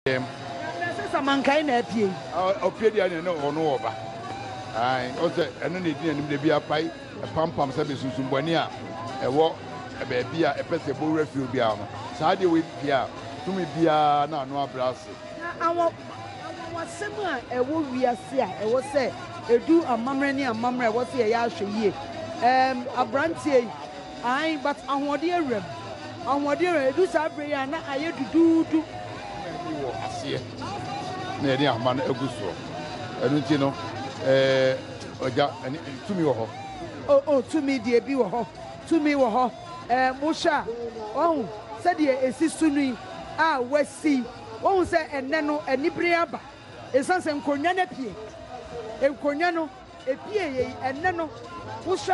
yɛm. Ɛnna ɛsɛ sɛ mankae na apue. Ɔpue deɛ ne ne ɔno ɔba. Ae, ɔsɛ ɛno na ɛdi n'anim da bi apae ɛpampam sɛ bɛsunsumbɔne a ɛwɔ baabi a ɛpɛ sɛ ɛbɔ wura fie obiara no. Saa adeɛ wei pue a, tumi biara na ano abrɛ ase. Na anwanwasɛm a ɛwɔ wiase a ɛwɔ sɛ ɛdu amammerɛ ne amammerɛ a ɛwɔ sɛ yɛyɛ ahwɛyie. Ɛɛm, aberanteɛ yi. Aane, but ahoɔden awuram. Ahoɔden awuram, ɛduru saa berɛ yi a na ayɛ duduudu. Ahoma ani wɔ aseɛ na yɛde ahoma no agu soɔ, ɛno nti no eh, Ɔgya, ɛne, tumi wɔ hɔ. Oh, oh, tumi deɛ bi wɔ hɔ, tumi wɔ hɔ, eh, mohwɛ a, wahu sɛdeɛ ɛsi so no yi, a wasi yi, wahu sɛ ɛnnɛ no anibere aba, ɛsiane sɛ nkonnwa no apue, nkonnwa no. Ebia ɛyɛ yi ɛnnɛ no, wohwɛ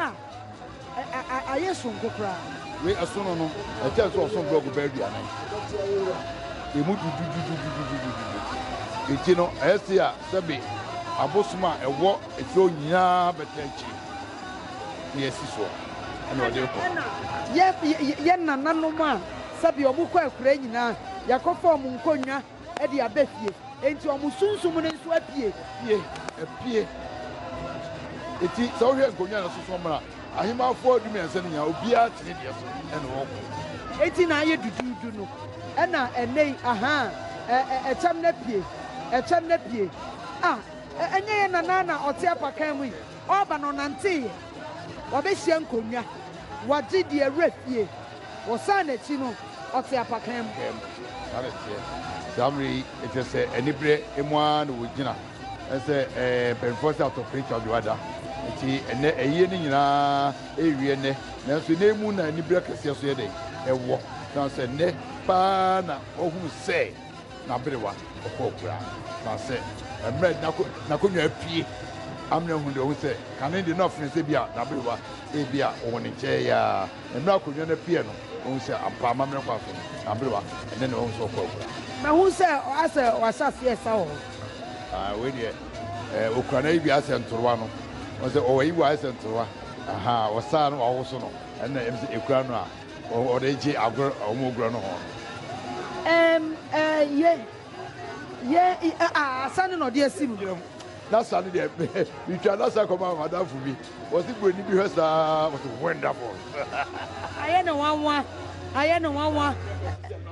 a, ayɛ soronko koraa. Wei ɛsono no, ɛkyɛn sɛ ɔso blɔɔgo bɛyɛ aduanan. Emu dududududududududu. Enti no, ɛyɛ se a sɛbe abosom a ɛwɔ akyire hɔ nyinaa bɛtaa akyire na yɛasi soɔ ɛna ɔde rekɔ. Yɛn nananom a sɛbe wɔkɔ akuraa nyinaa, yɛakɔfa wɔn nkonnwa de aba fie, enti wɔn sunsum no nso apue. Apue, apue. Enti sɛ wohwɛ nkonnwa a ɛsoso mmra ahemmafoɔ dumiɛnsa no nyinaa, obiara te ne deɛ so na ɔkɔ. Enti na ayɛ duduudu no, ɛna ɛnnɛ yi, ahaa, ɛ, ɛ, ɛkyɛm no apue, ɛkyɛm no apue. A, ɛ, ɛnyɛ yɛn nana na ɔte apakan mu yi, ɔreba na ɔnanteeɛ, wabehyia nkonnwa, wagye deɛ wura fie. Wɔsan n'akyi no, ɔte apakan mu. Pɛɛ mu. Saa na ɛteɛ. Saa mmerɛ yi, ɛkyerɛ sɛ aniberɛ mu ara na wɔgyina sɛ ɛɛ mpanimfoɔ sɛ atɔ Prince Charles Wada. Nti ɛnnɛ ayie no nyina ara rewie nnɛ. Nanso nnɛ yi mu na aniberɛ kɛseɛ nso yɛ dɛn? Ɛwɔ. Ɛsiane sɛ nnɛ pa ara na wɔahunu sɛ. n'aberewa bɔkɔɔ koraa. Na sɛ mmerɛ a n'akonnwa apue amena hu deɛ, ɔhu sɛ kane deɛ na ɔfene sɛ ebia n'aberewa ebia ɔwɔ ne nkyɛn yi ara. Na mmerɛ a akonnwa no apueɛ no, ɔhu sɛ ampa amammerɛ kwan so no, n'aberewa ne no, ɔhu sɛ ɔkɔɔ koraa. Mahu sɛ asɛ wɔahyɛ aseɛ resa wɔ hɔ. Aah wei deɛ eh, ɔkura no ayi bi ayɛ sɛ ntorowa no. Ɔhu sɛ ɔwɔ ayi bi ayɛ sɛ ntorowa. Ahaa, ɔsaa no, wawoso no. Ɛno na ɛm sɛ ɛkura no a. Wɔde gye agor a wɔagura no hɔn. Em eh ye ye i eh ah asa no na ɔde asi mu. Gyina mu. N'asa no deɛ metwa n'asa kɔmaa m'adamfo bi. Ɔse buroni bi hwɛ saa ɔse wonderful. Ayɛ no nwanwa ayɛ no nwanwa.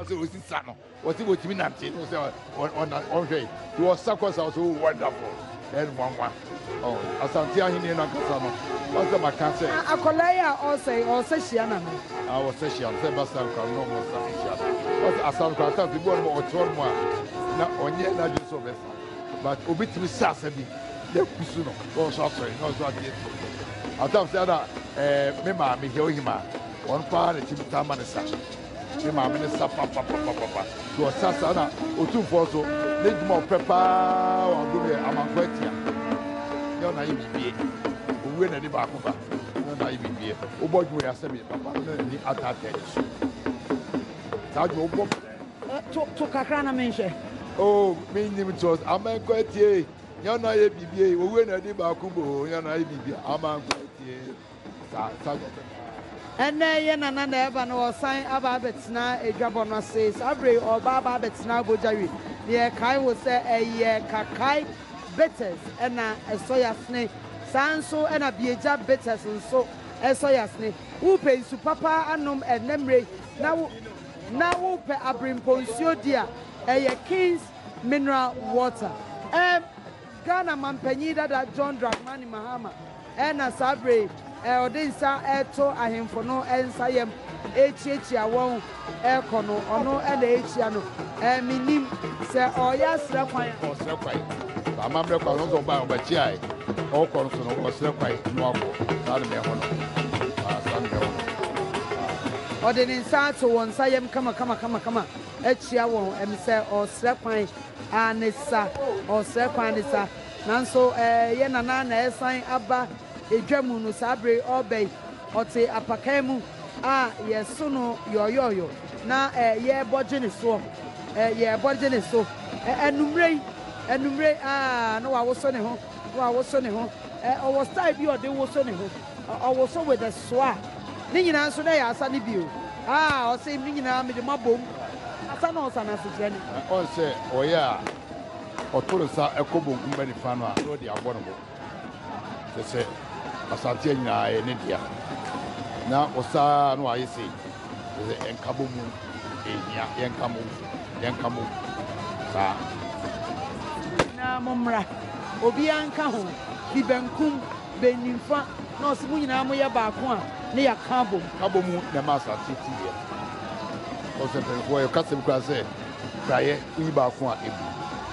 Ɔse ɔsi sa no. Ɔse ɔtumi nante no sɛ ɔnhwɛ yi nti ɔsa kɔ sa ɔse oh wonderful ɛyɛ no nwanwa oh Asante ahenni no ankasa no ɔsɛ maka sɛ. Akwadaa yi a ɔsa yi ɔsa hyia na no. Ah ɔsa hyia no sɛ ɛba sa nkwa no na ɔsa hyia no ɔse asa no kora ata fi bɔɔ no ma ɔte ɔnom a na ɔnyɛ n'adwene sɛ ɔbɛsa but obi tumi sa asa bi na akusu no na ɔnso asɔre na ɔnso ate atu atam sɛ ɛna ɛɛ me maame hɛ ohimaa ɔno paa na tumi taa ma ne sa Ne maame no sa papapapapa nti ɔsa saa na otumfoɔ so ne dwuma a ɔpɛ paa wɔ agro no yɛ amanfoɔ atia nyɛ ɔna ayɛ bibie owie na ne baako ba nyɛ ɔna ayɛ bibie wobɔ dwuma yɛ asɛm yɛ papa ɔna n'ani ataata ani so saa dwuma wobɔ to to kakra na menhwɛ oh menim to amankɔ atie nyɛ ɔna ayɛ bibie owie na ne baako bo nyɛ ɔna ayɛ bibie amankɔ atie Ɛnnɛ yɛn nana na ɛreba na ɔresan aba abɛtena adwabɔ no ase. Saa berɛ yi ɔreba aba abɛtena abɔdwawi na yɛkae wo sɛ ɛyɛ Kakai Bitters na ɛsɔ Yasene. Saa nso na Biagya Bitters nso sɔ Yasene. Wopɛ nsu papa anom ɛnnɛ mmerɛ yi na wo na wopɛ aberempɔnsuo di a, ɛyɛ King's Mineral Water. Ghana mampanyin dada John Dramani Mahama na saa bere yi ɔde nsa reto ahemfo no nsa yam rekyiakyia wɔn rekɔ no. Ɔno na ɛrekyia no. Mennim sɛ ɔreyɛ asrɛ kwan a. Ɔresrɛ kwan. Saa amammerɛ kwan no nso ɔbaa ɔbɛkyiae. Ɔrekɔ no so no, ɔresrɛ kwan na wakɔ. Saa na mehu no. Ah, saa na mehu no. Ah. Ɔde ne nsa ato wɔn nsa yam kama kama kama kama akyia wɔn. Ɛm sɛ ɔresrɛ kwan Aane sa, ɔresrɛ kwan ne sa. Nanso ɛyɛ Nana na ɛresan aba dwa mu no saa bere yi ɔreba yi. Ɔte apakan mu a yɛso no yɔɔyɔɔyɔ na yɛrebɔ gye ne soɔ, yɛrebɔ gye ne so. Anwumerɛ yi, anwumerɛ yi, aa na wawoso ne ho, na wawoso ne ho. Ɔwɔ style bi a ɔde woso ne ho. Ɔwoso with a soa ne nyinaa nso dɛ yɛ asa no bi o aa ɔse emi nyinaa mede mo abɔ mu asa no ɔsa no asekyerɛ ne. Ɔn sɛ ɔyɛ a ɔto ne sa kɔ bonkum bɛ nifa no a na ɔde abɔ ne bo kyerɛ sɛ Asante nyinaa yɛ ne dea na ɔsa a na wayɛ sei kyerɛ sɛ yɛnka bɔ mu ehia yɛnka bɔ mu yɛnka bɔ mu saa. Mo nyinaa mo mmra obiara nka ho bi benkum. Bɛn nimfa na ɔse mo nyinaa moyɛ baako a na yɛaka abom? Abɔ mu na ɛma asase tu yɛ. Ɔsɛ mpanyimfoɔ yɛ kasɛm koraa sɛ prayɛ woyi baako a ebu,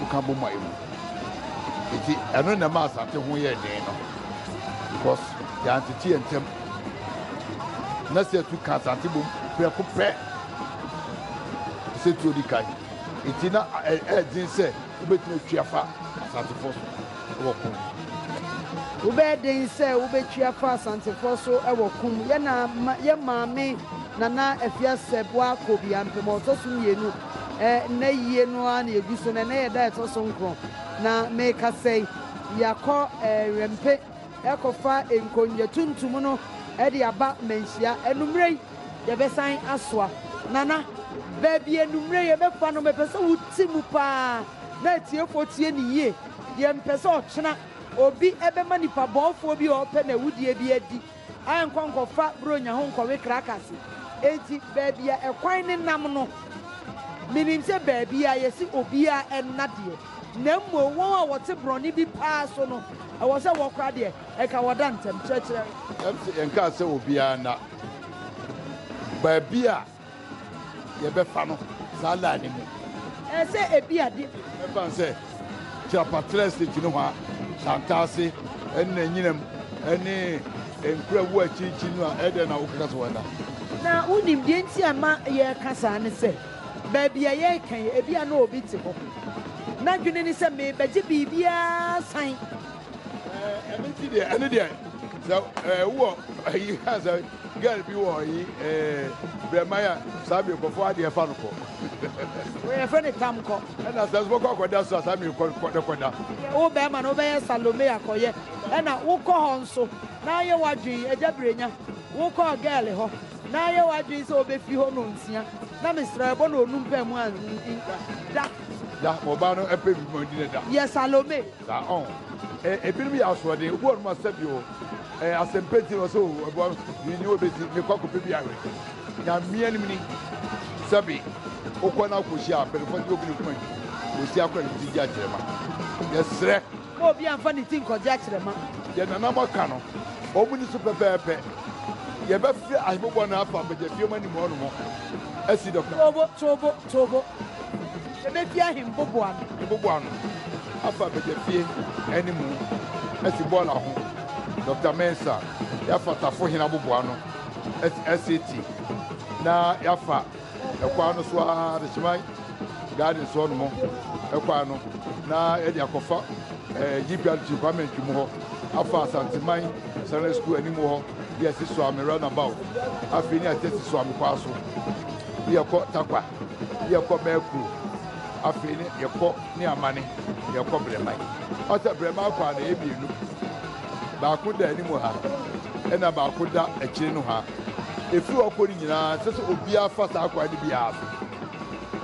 woka bom a ebu. Enti ɛno na ɛma asate ho yɛɛ den no because yɛantete yɛn ntam. Na sɛ tu ka asate bom prɛko pɛ te sɛ tuo di kan. Enti na ɛyɛ den sɛ wobɛtumi atwi afa asatefoɔ so. wɔ ko ho. Wobɛyɛ den sɛ wobɛtwi afa Asantefoɔ so wɔ ko mu. Yɛ na ma, yɛ maame Nana Afiasɛ Boah Kobia mpem a ɔtɔ so mmienu. Ɛ, nnɛ yie no ara na yɛgu so no, ɛnnɛ yɛ da a ɛtɔ so nkron. Na merekasa yi, yɛakɔ ɛ, Nwɛmpe rekɔfa nkonnwa tuntum no de aba Manhyia. Anwummerɛ yi, yɛbɛsan asoa. Nana, baabi anwummerɛ yi yɛbɛfa no, mepɛ sɛ wote mu pa ara. na atiefoɔ tie no yie. Yɛmpɛ sɛ ɔkyena obi bɛma nipa bɔɔfoɔ bi a ɔpɛ n'awudie bi adi a nkɔ nkɔfa Buronya ho nkɔwe krakase. Enti baabi a ɛkwan no nam no, menim sɛ baabi a yɛse obiara nna deɛ, na mmom wɔn a wɔte borɔne bi paa so no, ɛwɔ sɛ wɔkora deɛ, ɛka wɔda ntɛm. Kyerɛkyerɛ. Ɛmse yɛnkaa sɛ obiara nna baabi a. yɛbɛfa no saa line no mu. Ɛɛ sɛ ebi a de. Ɛfan sɛ, Kyirapatrɛ State no hɔ a, Santase, ɛna Nyinam, ɛne Nkrawu akyirikyiri no a, ɛdɛn na wokeka sɛ wɔda? Na wonim deɛ nti a ɛma yɛreka saa ne sɛ, baabi a yɛreka yi, ebi a na obi te hɔ, n'adwene ne sɛ, merebɛgye biribiara asan. ɛno nti deɛ ɛno deɛ sɛ ɛɛ wɔ ayi ha sɛ girl bi wɔ ayi ɛɛ brɛman a saa mi kɔfɔ adeɛ fa no kɔ. wɔyɛ fɛ ne tam kɔ. ɛna sɛ sɔkɔ akɔda so a saa mi kɔ kɔ ne kɔda. wo bɛrima no wobɛyɛ salome akɔyɛ ɛna wokɔ hɔ nso na ayɛ wadwin agya birenya wokɔ girl hɔ na ayɛ wadwin sɛ wobɛfi hɔ no nsia na mesrɛ ɛbɔ na onum pɛ mu a da. da ɔbaa no ɛpɛ bi mu ɔdi ne da. yɛ salome. Saa ɔn. Ɛ, ebinom yɛ asoɔden, obi wɔ hɔ no ma sɛbi o, ɛ, asɛmpa nti na ɔsɛ o, ɛboa me, menni wɔ besi, mekɔ akɔpɛ bi awe. Nyame anim ni, sɛbi, wokɔ na wukohyia mpanyimfoɔ de obi ne kuma nti, osi akɔ na ne ti gye akyerɛma. Yɛsrɛ. Ma obiara mfa ne ti nkɔgye akyerɛma. Deɛ nananom aka no, wɔn nni so pɛpɛɛpɛ. Yɛbɛfrɛ ahemmɔbɔ no afa bagyafie mu anim hɔnom asi dɔkta. Toobo, toobo. To bo, ebefi ahembobo ano. Mbobo ano, afa begyafie ne mu, asi bɔɔla ho, Doctor Mensah, yɛafa Tafo Hen abobo ano asi SAT, na yɛafa ɛkwan no so ara Adehyeman Gardens hɔ nom ɛkwan no, na yɛde akɔfa eh, GPRT Kwame Antwi mu hɔ, afa Asanteman Secondary School anim hɔ. Bi a ɛsi Suame Runabout, afei ne ate si Suame Kwaa so. Bi a ɛkɔ Tarkwa, bi a ɛkɔ Merkuro, afei ne yɛkɔ ne Amane, yɛkɔ Brɛman. Ɔsɛ Brɛman akwaa no ɛyɛ mmienu. Baako da anim ha, ɛna baako da akyire no ha. Ɛfiri hɔ kɔ no nyinaa, ɛsɛ sɛ obiara fa saa kwan no biara so.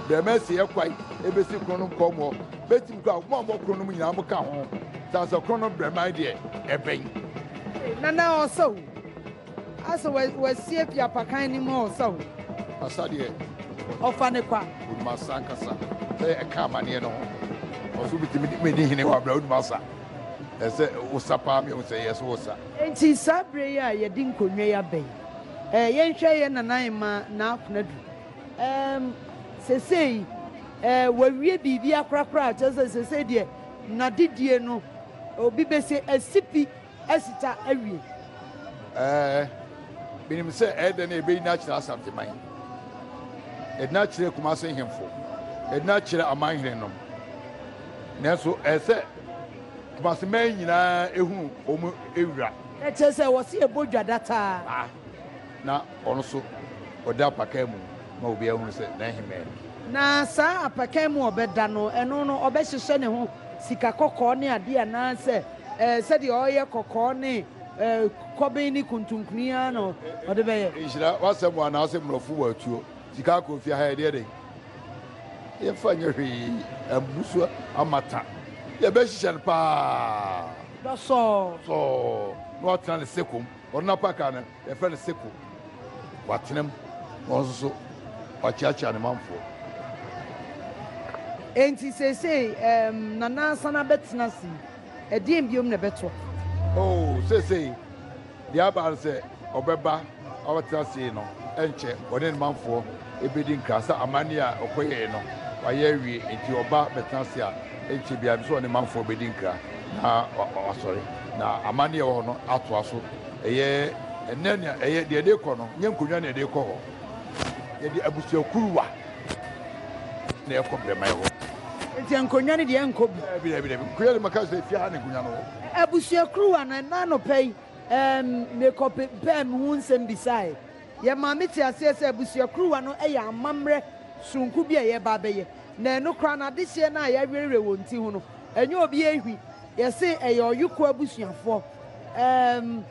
Brɛman si yɛ kwan ɛbɛsi Kronom Kɔmɔ, bɛtumi kɔ a, mo a mowɔ Kronom nyinaa moka ho. Sansakrono Brɛman deɛ ɛbɛn. Nana ɔsa o. Asɛ wasi afi apakan no mu ɔsa o. Ɔsa deɛ. Ɔfa ne kwa. Onim asa ankasa. Sɛ ɛka amaneɛ no ho. Ɔso bitumi medi hene wɔ abira onim asa. Ɛsɛ wosa paa mi ehu sɛ yɛ so wosa. Nti saa bere yi a yɛde nkonnwa yi aba yi ɛɛ yɛnhwɛ yɛ nana Emma Naa Konadu ɛɛm sesei ɛɛ wawie biribi akorakora a kyerɛ sɛ sesei deɛ nadedie no Obi bese asipi asita awie. Ɛɛ, menim sɛ ɛyɛ dɛ na ɛbɛyi no akyerɛ Asanteman, ɛde no akyerɛ Kumase nhemfo, ɛde no akyerɛ amanhenenom. Nanso ɛyɛ sɛ Kumaseman nyinaa hunu wɔn wura. Ɛkyerɛ sɛ wɔse ɛbɔ dwa dataa. Na ɔno nso ɔda apakan mu ma obiara hunu sɛ n'ahemman ni. Na saa apakan mu a ɔbɛda no, ɛno no, ɔbɛhyehyɛ ne ho sika kɔkɔɔ ne adeɛ anaasɛ ɛɛ, sɛdeɛ ɔyɛ kɔkɔɔ ne ɛɛ, kɔben ne kuntunkuni ara na ɔde bɛyɛ. Nhyira w'asɛm o anaasɛ mmorɔfo wɔ atuo. Sika akɔ fie ha yɛdeɛ dɛn? Yɛmfa nyɛ hwee, abu so amata. Yɛbɛhyehyɛ no paa. Dɔsɔɔ. Sɔɔ, na watena ne seko mu. Ɔno n'apakan no, Yɛfrɛ no Seko. Watena mu, na ɔno nso so wakyeakyea ne manfoɔ. Enti seesei ɛɛm, Nana asan abɛtena ase yi, ɛdeɛn biom na ɛbɛtɔ? Oo, seesei deɛ aba ara ne sɛ ɔbɛba abɛtena ase yi no, ɛnkyɛ ɔne ne manfoɔ bɛdi nkra sɛ amanneɛ a ɔkɔyɛeɛ no, wayɛ awie. Enti ɔba bɛtena ase a, ɛnkyɛ biara nso ɔne ne manfoɔ bɛdi nkra, na wa, wasɔre, na amanneɛ a ɛwɔ hɔ no atoa so. Ɛyɛ ɛnɛ nea ɛyɛ deɛ ɛde kɔ no nyɛ nkonnwa na ɛde kɔ hɔ. Yɛde abusua kuruwa na ɛkɔ brɛmae hɔ. Nti nkonnwa no deɛ nkɔ bi. Dabi dabi dabi nkonnwa de ma ka sɛ fie ha na nkonnwa no wɔ. Abusua kuruwa no ɛna anɔpa yi ɛɛm mekɔ pe pɛɛ me ho nsɛm bisaeɛ. Yɛ maa me te aseɛ sɛ abusua kuruwa no ɛyɛ amamerɛ sononko bi a yɛ ba abɛyɛ. Na ɛno koraa no adehyeɛ no a yɛ awerɛwerɛ wɔn ti ho no ɛnyɛ obi ɛhwi. Yɛ se ɛyɛ ɔyoko abusuafoɔ Erm,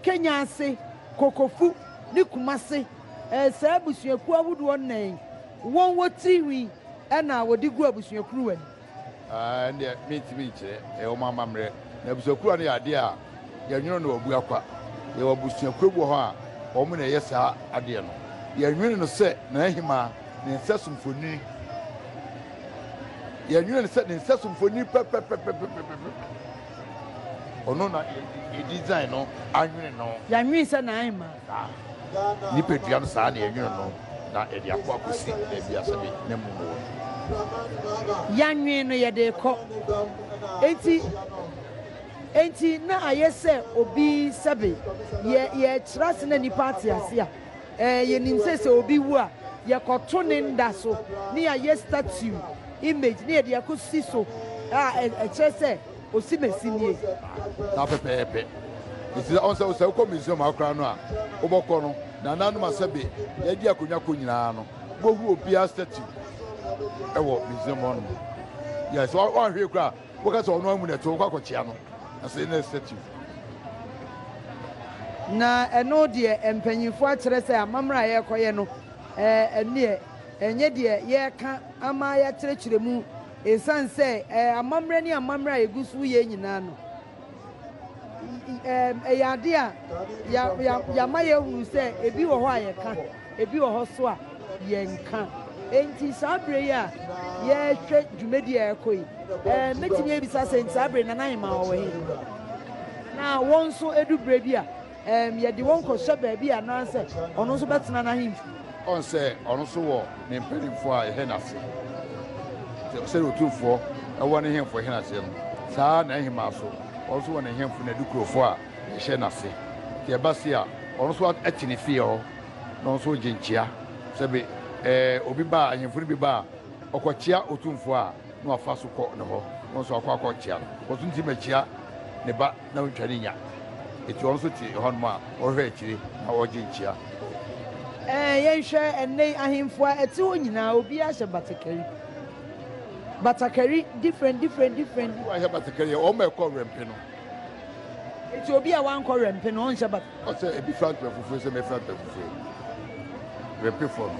Kenya ase, Kokofu ne Kumase, eh, saa abusuakuo ahodoɔ nnan yi, wɔn wɔ tiri hwi na wɔde gu abusua kuruwa mu. Ah, ɛndeɛ mentimi nkyerɛ, ɛyɛ wɔn amammerɛ. Na abusua kuruwa no yɛ adeɛ a yɛnwono no wɔ abua kwa. Yɛwɔ abusuakuo bi wɔ hɔ a wɔn na ɛyɛ saa adeɛ no. Yɛnwene no sɛ Nana Ahimaa ne nsɛso mfonini. Yɛnwene no sɛ ne nsɛso mfonini pɛpɛpɛpɛpɛpɛpɛ. Ɔno na yɛ design no anwene no. Yɛanwene sɛ na ayɛ ma. Saa nipadua no saa na yɛnwene no na yɛde akɔ akɔsi baabi a sɛbe na mum wɔ no. Yɛanwene no yɛde rekɔ. Enti, enti na ayɛ sɛ obi sɛbe yɛ, yɛrekyerɛ ase na nnipa ate ase a. Ɛɛ, yɛnim sɛ sɛ obi wu a, yɛkɔto ne nda so na yɛayɛ statue, image, na yɛde akɔsi so a ɛkyerɛ sɛ osimesi nie. Saa pɛpɛɛpɛ. Nti sɛ, ɔn sɛ, sɛ wokɔ Museum ha koraa no a, wobɔkɔ no, nananom a sɛbe yɛde akonnwa kɔ nyinaa no, wobɛhu obiara statue wɔ Museum hɔnom. Yes, woanhwee koraa a. Woka sɛ ɔno amu na ɛte, wokɔ akɔkyea no, na sɛ na statue. Na ɛno deɛ mpanyinfoɔ akyerɛ sɛ amammerɛ a yɛrekɔyɛ no nneɛ ɛnyɛ deɛ yɛreka ama yɛakyerɛkyerɛ mu, ɛsiane sɛ amammerɛ ne amammerɛ a ɛgu so yɛ nyinaa no, Ɛyɛ ade a yɛama yɛahunu sɛ ebi wɔ hɔ a yɛka, ebi wɔ hɔ nso a yɛnka. Enti saa bere yi a yɛrehwɛ dwumadi a ɛrekɔ yi, mɛtumi abisa sɛ saa bere Nana Ahemaa ɔwɔ he? Na wɔn nso edu bere bi a. Ɛɛm, yɛde wɔn kɔhyɛ baabi a na sɛ ɔno nso bɛtena n'ahemfi. Ɔn sɛ ɔno nso wɔ ne mpanimfoɔ a ɛhɛ n'ase. Sɛ sɛdeɛ otumfoɔ ɛwɔ ne hemfo ɛhɛ n'aseɛ no, saa ara na ɛhemaa nso, ɔno nso wɔ ne hemfo ne n'adukurofoɔ a ɛhyɛ n'ase. Nti ɛba se a, ɔno nso ɛte ne fie hɔ, na ɔno nso regye nkyea. Sɛ be, ɛɛ, obi ba a, ahemfo no bi ba a, ɔkɔkyea otumfoɔ a, na wafa so kɔ ne hɔ, na ɔno nso akɔ akɔkyea no. Ɔso nti mɛkyea ne ba. na ontwa ne nya. Enti ɔno nso te hɔnom a, ɔhwɛ akyire na ɔgye nkyia. Ɛɛ, yɛnhwɛ ɛnnɛ yi ahemfo a ɛte hɔ nyinaa, obiara hyɛ batakari. Batakari different, different, different. Obi a wahyɛ batakari yɛ wɔn a ɛkɔ wɛmpe no. Enti obi a wankɔ wɛmpe no, ɔnhyɛ batakari. Ɔsɛ ebi fira ntoma fufuo sɛ mefira ntoma fufuo yi. Wɛmpefoɔ no.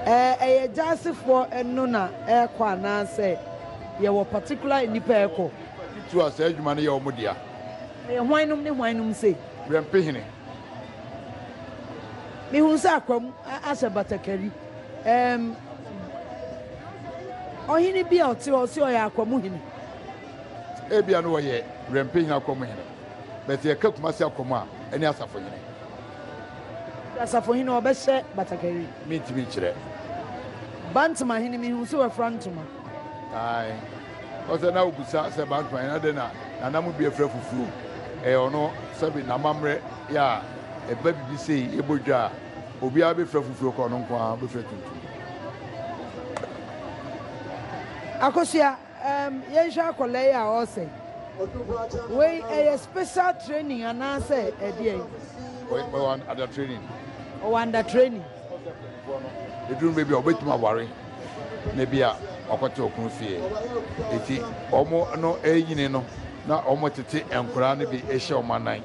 Ɛɛ, ɛyɛ Gyasefoɔ no na ɛrekɔ anaasɛ yɛwɔ particular nnipa a ɛkɔ? Nnipa titiriw a saa adwuma no yɛ wɔn dea. Wɔyɛ hwannom ne hwannom sei? Wɛmpehene. Mehunu sɛ Akwam ahyɛ batakari. Ɛɛm, ɔhene bi a ɔte hɔ sɛ ɔyɛ Akwam hene. Ebia na ɔyɛ Wɛmpehene Akwam hene. But sɛ yɛka Kumasi Akwam a, ɛne Asafohene. Nti Asafohene ɔbɛhyɛ batakari? Mentumi nkyerɛ. Bantama hene, mehunu sɛ wafura ntoma. Ae. Ɔsɛ na obisa sɛ Bankman na dɛn na Nana mu bi afira fufuo. Ɛyɛ ɔno sɛbe n'amammerɛ yɛ a ɛba bibi sei yɛbɔ dwa a obiara bɛfira fufuo kɔ ɔno nko ara bɛfira tuntum. Akosua, um, yɛnhwɛ akwadaa yi a ɔresɛ. Wei ɛyɛ special training anaasɛ ɛdeɛn? Ɔyɛ under training. Ɔwɔ under training. Eduru mber bi a obotum aware na bi a ɔakɔtse ɔkun fie. Ntsi wɔn no enyin no na wɔtsetse nkora no bi hyɛ wɔn anan.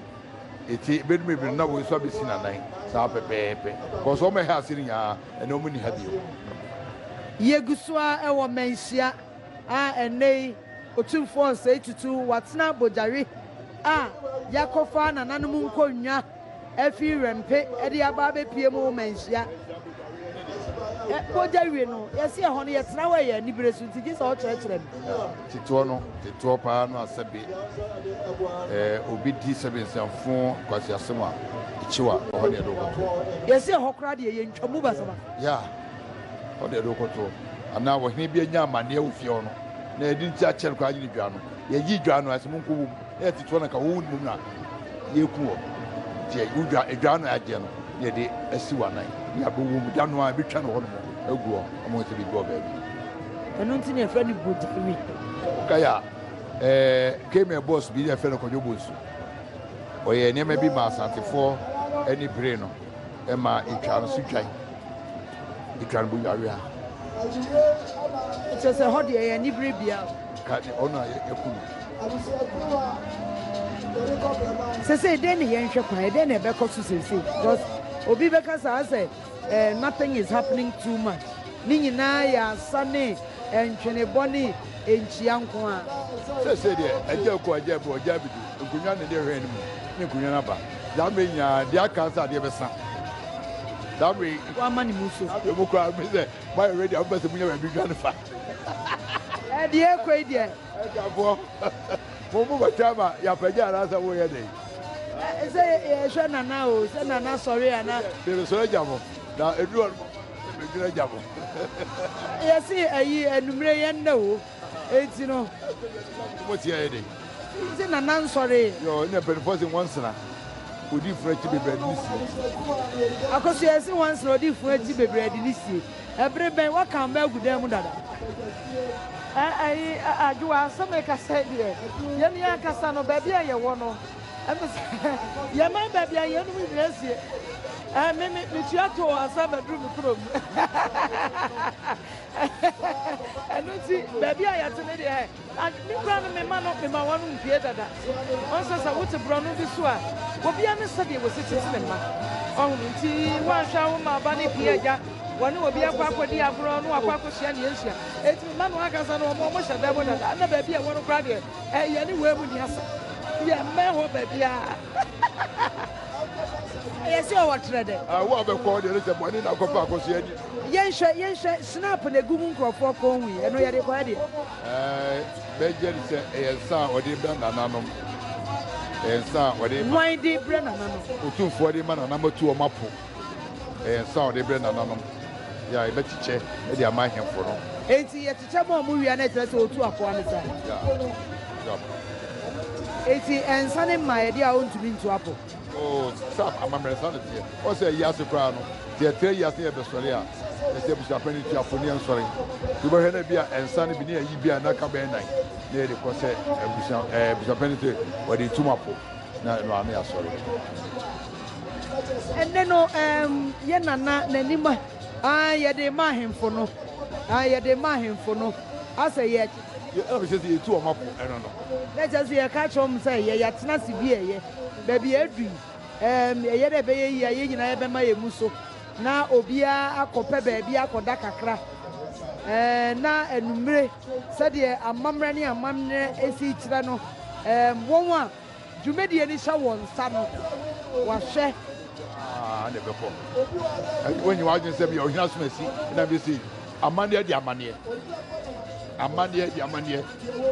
Ntsi bɛdu mber bi no na wɔn so abesi n'anan saa pɛpɛɛpɛ cos wɔn ha ase no nyinaa nna wɔn nnyi ha bio. Yegu so ara wɔ mmanhyia a ɛnnɛyi Otumfoɔ Osei Tutu watsena Bogyawe a yɛakɔfa nananom nkonnwa. afi Rɛmpe de aba abɛpue mu ma nhyia. Ɛ, bogya wie no, yɛse ɛhɔ no yɛtena hɔ a ɛyɛ anibere so, nti gye sɛ ɔkyerɛkyerɛ me. Tetoɔ no, tetoɔ paa no a sɛbe ɛ, obi di sɛbe nsɛmfo nkwaseasɛm a, kyew a, ɛhɔ ne yɛde wo kɔto. Yɛse ɛhɔ koraa deɛ yɛntwa mu basabasa. Ya, ɛhɔ ne yɛde wo kɔto. Anaa ɔhene bi anya amaneɛ wɔ fie hɔ no, na yɛde ne ti akyɛ no koraa nye ne dwa no, yɛyi dwa no a, yɛse monkɔ wom. Ɛyɛ tete hɔ na nka wowu no mmom na yɛreku wɔ. Nti yɛyi wo dwa, edwa ano a agyeɛ no na yɛde asi w'anan ne abɔwɔ mu, da no ara yɛbɛtwa no hɔnom agu hɔ ama wɔahu sɛ biribi wɔ baabi. Ɛno nti na yɛfrɛ no Bodawi. Wokae a, ɛɛ, Khmer bɔs bi na yɛfrɛ no Kwadwo Bonsu. Ɔyɛɛ nneɛma bi maa Asantefoɔ ani beree no. Ɛma etwa no so twan. Etwa no bonyawea. Kyerɛ sɛ hɔ deɛ ɛyɛ anibere bea. Ka ne ɔno a yɛku no. Sese dɛn na yɛnhwɛ kwan? Ɛdɛn na ɛbɛkɔ so sese? Because obi bɛka saa sɛ eh, nothing is happening too much. Ne nyinaa yɛ asa ne ntwenebɔ ne nkyia nko ara. Sesei deɛ, agya aku agya abu agya abedu nkonnwa ne deɛ hwɛn no mu ne nkonnwa no aba. Saa bere yi nyinaa, deɛ aka nso adeɛ bɛsa. Saa bere yi. Wama ne mu so. Afei mo koraa, me sɛ moayɛ ready a, mopɛ sɛ munya baabi dwane fa. Ɛɛ deɛ ɛrekɔ yi deɛ. Agyafoɔ, mo mo bɛtɔ ama yɛapagya anaasɛ moyɛ dɛn? Sɛ yɛhwɛ Nana o, sɛ Nana sɔre a na. Yɛbɛsɔre agya mo, na ɛduru hɔ no. Yɛse ayi anumere yɛ nnɛ oo enti no. Mo te ayɛ dɛn. Nti nana nsɔree. Yoo na mpanyinfoɔ se nwansena odi funu akyi bebree ade ne sie. Akosua yɛse nwansena odi funu akyi bebree ade ne sie ɛbere bɛn waka ama agu dan mu dada. Ɛɛ ayi Adwoa sɛ mekasa deɛ yɛn ankasa no baabi a yɛwɔ no Ɛfiri sɛ yɛn man baabi a yeinom nyinaa asie. Ɛɛ me me metua too ansa maduru me kurom. Ɛno nti baabi a yɛte ne deɛ me kura no mema no mema wɔn mpie dada. Wɔn sɛ sɛ wote borɔno bi so a obiara ne sɛdeɛ wɔsi tete ne mma. Ɔhono nti wɔanhwɛ a woma aba ne pie agya wɔne obi akɔ akɔdi agorɔ na wakɔ akɔhyia ne yɛnhyia. Ɛtumi ma no ankasa no wɔn hyɛ dɛm dada na baabi a ɛwɔ no koraa deɛ Ɛyɛ ne wei mu ni asa. Yɛ mmɛn hɔ baabiara. Ɛyɛ sɛ ɔwɔ trɛ dɛ. Ah, wo a bɛkɔ deɛ ne sɛ bɔne na akɔpɛ akɔsoɛ ni. Yɛnhwɛ yɛnhwɛ snap na egu mu nkurɔfoɔ kɔn hui ɛno yɛde kɔɛ deɛ. Ɛɛ bɛgye ne sɛ ɛyɛ nsa a ɔde brɛ nananom. Ɛyɛ nsa a ɔde ma. Wɔn de brɛ nananom. Otumfoɔ de ma nananom atu wɔn apo. Ɛyɛ nsa a ɔde brɛ nananom. Yɛ a yɛbɛkyekyɛ de ama ahemfo no. Enti yɛ. Kyɛ mo a mo wia no kyerɛ sɛ otu akoa no sa. Eti ɛnsa ne mma ɛde a ontumi ntu apo. Oh Sam amammerɛ saa na teɛ ɔ sɛ yi ase koraa no sɛ yɛtra yi ase na yɛbɛsɔre a ɛsɛ abusuapɛn no tu apo ne yɛnsɔre nti wobɛhwɛ no bi a ɛnsa no bi ne ayi bi a na ka bɛyɛ nan na yɛde kɔ sɛ abusua ɛɛ abusuapɛn no sɛ wɔde tum apo na ɛno ano yɛasɔre. Ɛnɛ no ɛɛm yɛ nana n'anim a. Aane, yɛde rema ahemfo no. Aane, yɛde rema ahemfo no, asɛ yɛ. Yɛ a mehyɛ sɛ yɛtu wɔn apo ɛno no. Na kyerɛ sɛ yɛka akyerɛ wɔn sɛ yɛ yɛatena ase bi a ɛyɛ, baabi a adu yi, ɛɛm, ɛyɛ dɛ ɛbɛyɛ yie a yɛn nyinaa yɛbɛma yɛn mu so, na obiara akɔ pɛ baabi akɔ da kakra, ɛɛm, na anumere, sɛdeɛ amammerɛ ne amannerɛ si kyerɛ no, ɛɛm, wɔn a. Dwumadie no hyɛ wɔn nsa no, wɔahwɛ. Aa na ɛbɛkɔ. Ɛnti woanyi w'adwene sɛ bia ɔhene asom asi na bia sei. Amanneɛ de amanneɛ. Amanneɛ de amanneɛ.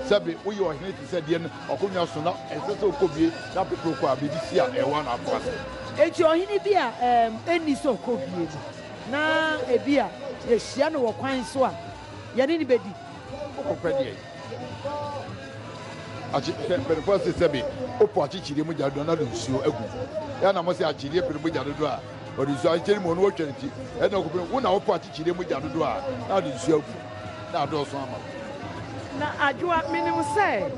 Sɛbe woyɛ ɔhene te sɛ deɛ w'akonnwa so na ɛsɛ sɛ wokɔbue na pɛpɛ wokɔ a, biribi si a ɛyɛ wo a na akɔ ase. Enti ɔhene bi a ɛɛm ɛnni sɛ ɔkɔbue no, na ebia yɛhyia no wɔ kwan so a, yɛne no bɛdi. Wokɔpɛ deɛ akyi hwɛ mpanyinfoɔ ase sɛbi wopɔ akyikyiri mu gya dodo na de nsuo agu yɛ na mo sɛ akyideɛ pere mu gya dodo a wɔde nsuo akyikyiri mu ɔno wɔtwa ne ti ɛna ɔkɔpɛ wo na wopɔ akyikyiri mu gya dodo a na de nsuo agu na adɔɔso ama. na adwoa menim sɛ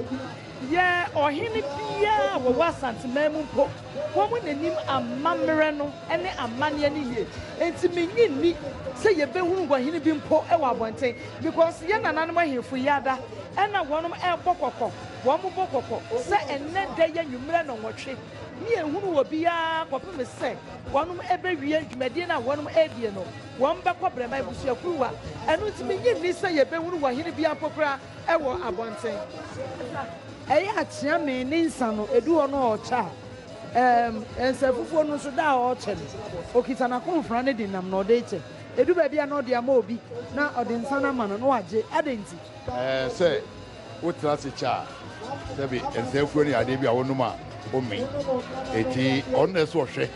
yɛ ɔhene biara wɔwɔ asanteman mu mpo. Wɔn na nim amammerɛ no ne amanneɛ no yie, enti mennye nni sɛ yɛbɛhunu nguanhene bi mpo wɔ abɔnten, because yɛn nananom ahemfo yi ada na wɔn rebɔ kɔkɔ, wɔbɔ kɔkɔ sɛ ɛnnɛ da yi anwummerɛ nnɔnwɔtwe ne yɛnhunu obiara kɔpem sɛ wɔn bɛwie dwumadie no a wɔn redie no, wɔn bɛkɔ Brɛma abusuakuruwa, ɛno nti mennye nni sɛ yɛbɛhunu wɔhene biara mpo koraa. wɔ abɔnten. Ɛyɛ a kyea me ne nsa no, edu hɔ no ɔɔkyɛ a, ɛɛm, nsa afufuo no nso da a ɔɔkyɛ no. Okita n'akomfra no de nam na ɔde rekyɛ. Edu baabi a na ɔde ama obi na ɔde nsa no ama no na wagye. Adɛn nti? Ɛɛ, sɛ wotena ase kyɛ a, sɛbe nsa afufuo no yɛ adeɛ bi a wonom a ɔmmi. Enti ɔno na ɛsɛ sɛ ɔhwɛ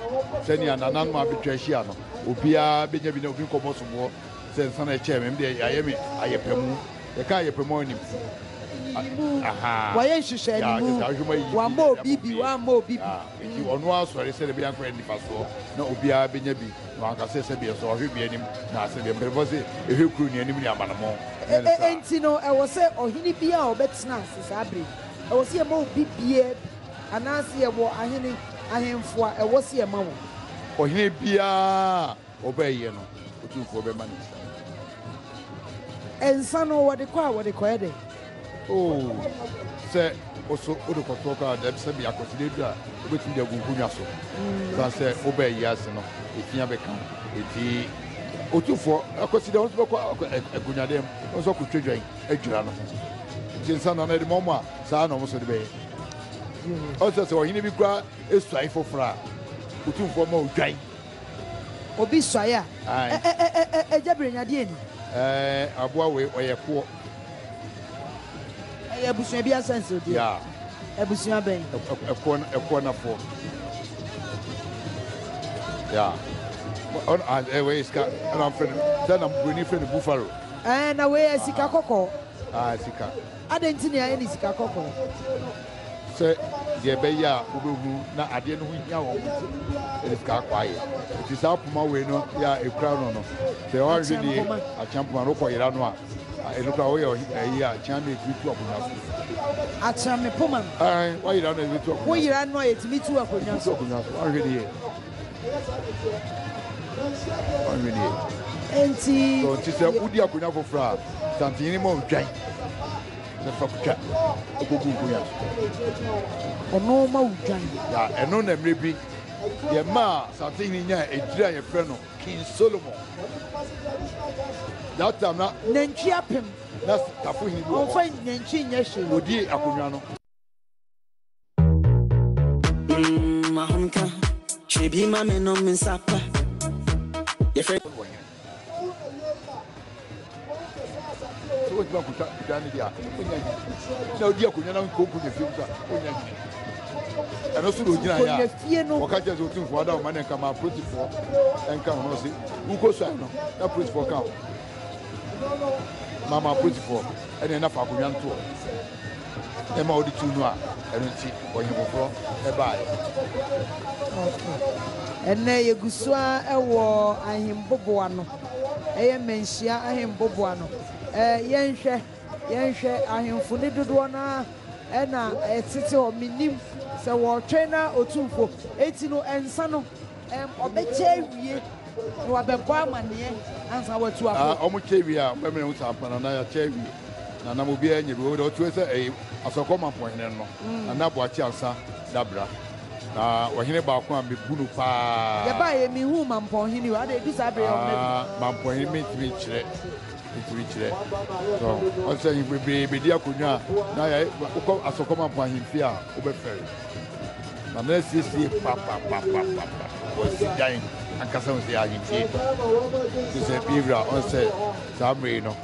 sɛnea nananom a betwa ahyia no, obiara bɛnya bi na obi nkɔbɔ soboɔ sɛ nsa na ɛkyɛɛ me ɛm deɛ yɛayɛ me ayɛpɛmu yɛka ayɛpɛmu a nim wayɛ nhyehyɛ ne mu wama obi bi wama obi bi nti ɔno asɔre sɛ ɛbɛyɛ akɔyɛ nifasoɔ na obiara bɛnya bi na wanka sɛ sɛ biɛ sɛ ɔhwɛ bi anim na sɛ biɛ mpɛrɛfɔ sɛ ɛhwɛ kuro ne anim ne amanamɔ nti no ɛwɔ sɛ ɔhene bi a ɔbɛtena ase saa bere ɛwɔ sɛ yɛma obi biɛ anaasɛ yɛwɔ ahene ahemfo a ɛwɔ sɛ yɛma wɔn ɔhene biara Ɔbɛyɛ no, Otumfoɔ bɛma no nsa nifa. Nsa no wɔde kɔ a, wɔde kɔyɛ dɛn? Oo, sɛ wo so wode kɔtoɔ kɔ a, dɛm sɛbea akwanside duru a, wobɛtumi de agu nkonnwa so. Ɛsiane sɛ wobaa wiase no, ɛfi abɛka wo. Enti Otumfoɔ, akwanside a, wo nso bɛkɔ akɔ agunnyadeɛ mu, wo nso akɔtwa dwan adwira no ho. Nti nsa no, na ɛde ma wɔn a, saa na wɔn nso de bɛyɛ. Ɔsɛ sɛ ɔhene bi koraa suae foforɔ a, Otumfoɔ ma odwan. Obi suae a, ɛ ɛ ɛ ɛ Agya Bere nya deɛ ni. Ɛɛ aboa wei ɔyɛ koɔ. Ɛyɛ abusua bi asɛnsodeɛ. Yeah. Abusua bɛn? Ɛ- ɛ- Ɛkoɔ no- ɛkoɔ nafoɔ. Yeah. Wɔ- ɔno- ah, eh, Wei sika ɛna wɔfrɛ no sɛ na buroni frɛ no buffalo. Ɛɛ na wei yɛ sika kɔkɔɔ. Ah, sika. Adɛn nti na yɛayɛ ne sika kɔkɔɔ? sɛ deɛ ɛbɛyɛ a wobɛhu na adeɛ no ho hia wɔn nti ɛde sika akɔ ayɛ nti saa poma wei no yɛ a ɛkura no no sɛ ɔhwɛ ne akyea mpoma no wokɔ yera no a ɛno kora woyɛ ɛyi a kyea no ɛtumi tu akonnwa so akyea me poma woyera no ɛtumi tu akonnwa woyera no a ɛtumi tu akonnwa so akonnwa so ɔhwɛ ne yɛ ɔhwɛ ne yɛ nti sɛ wodi akonnwa foforɔ a santenyini ma ɔdwan Sɛ fa kutwa kɔ gu nkonya so. Ɔno ma wo dwan. Na ɛno na mmerɛ bi yɛ maa Asante hene nyaa edire a yɛfrɛ no King Solomon. That time na. Nantwi apem. Na tafo hene bi wɔ hɔ. Ɔnfa nantwi nyɛ hwee. Ɔdi akonnwa no. Mm, ahomka, hwɛ bi ma me nom me nsa pa. Yɛfrɛ. Sɛ wɔtumi akɔtwa dan no deɛ a, ɔnya nyi. Na ɔdi akonnwa na nkonko nyɛ fie mu sa, ɔnya nyi. Ɛno so na ɔgyina yɛ a, wɔka kyerɛ sɛ ɔtumfoɔ ada ɔma ne nka ma apolisifoɔ nka ho no se, wokɔ sua no na apolisifoɔ ka ho. Mama apolisifoɔ ɛne ɛna fa akonnwa no toɔ. ma wɔde tuu no a, ɛno nti ɔhene foforɔ baeɛ. Okay. Ɛnnɛ yɛgu so ara wɔ ahemboboa no. Ɛyɛ mmanhyia ahemboboa no. Eh, yɛnhwɛ, yɛnhwɛ ahemfo ne dodoɔ no ara ɛna ɛtete hɔ. Menim sɛ wɔretwɛn na otu mpo. Enti no, ɛnsa no. Wɔbɛkyɛ awie na wɔabɛbɔ amanneɛ ansa wɔatu akɔ. Ah, wɔkyɛ wie a bɛmɛ ho saa pɛn na yɛakyɛ awie na nam obiara nyɛ bi wɔde ɔtwe sɛ ɛyɛ asɔkɔ mampɔhene no mm. na aboakye ansa dabra na ɔhene baako a mebu no paa yɛbaa yɛ mehu mampɔhene o ada ɛdu saa berɛ yɛ ɔmɛ ah, mampɔhene mentumi nkyerɛ ntumi kyerɛ so ɔsɛ bebree bɛdi akonnwa a na yɛ wokɔ asɔkɔ mampɔhene fie a wobɛfɛre ma no asiesie papapapapa wɔasi dan ankasa ho sɛ ahemfie te sɛ bi wura ɔn sɛ saa mmere no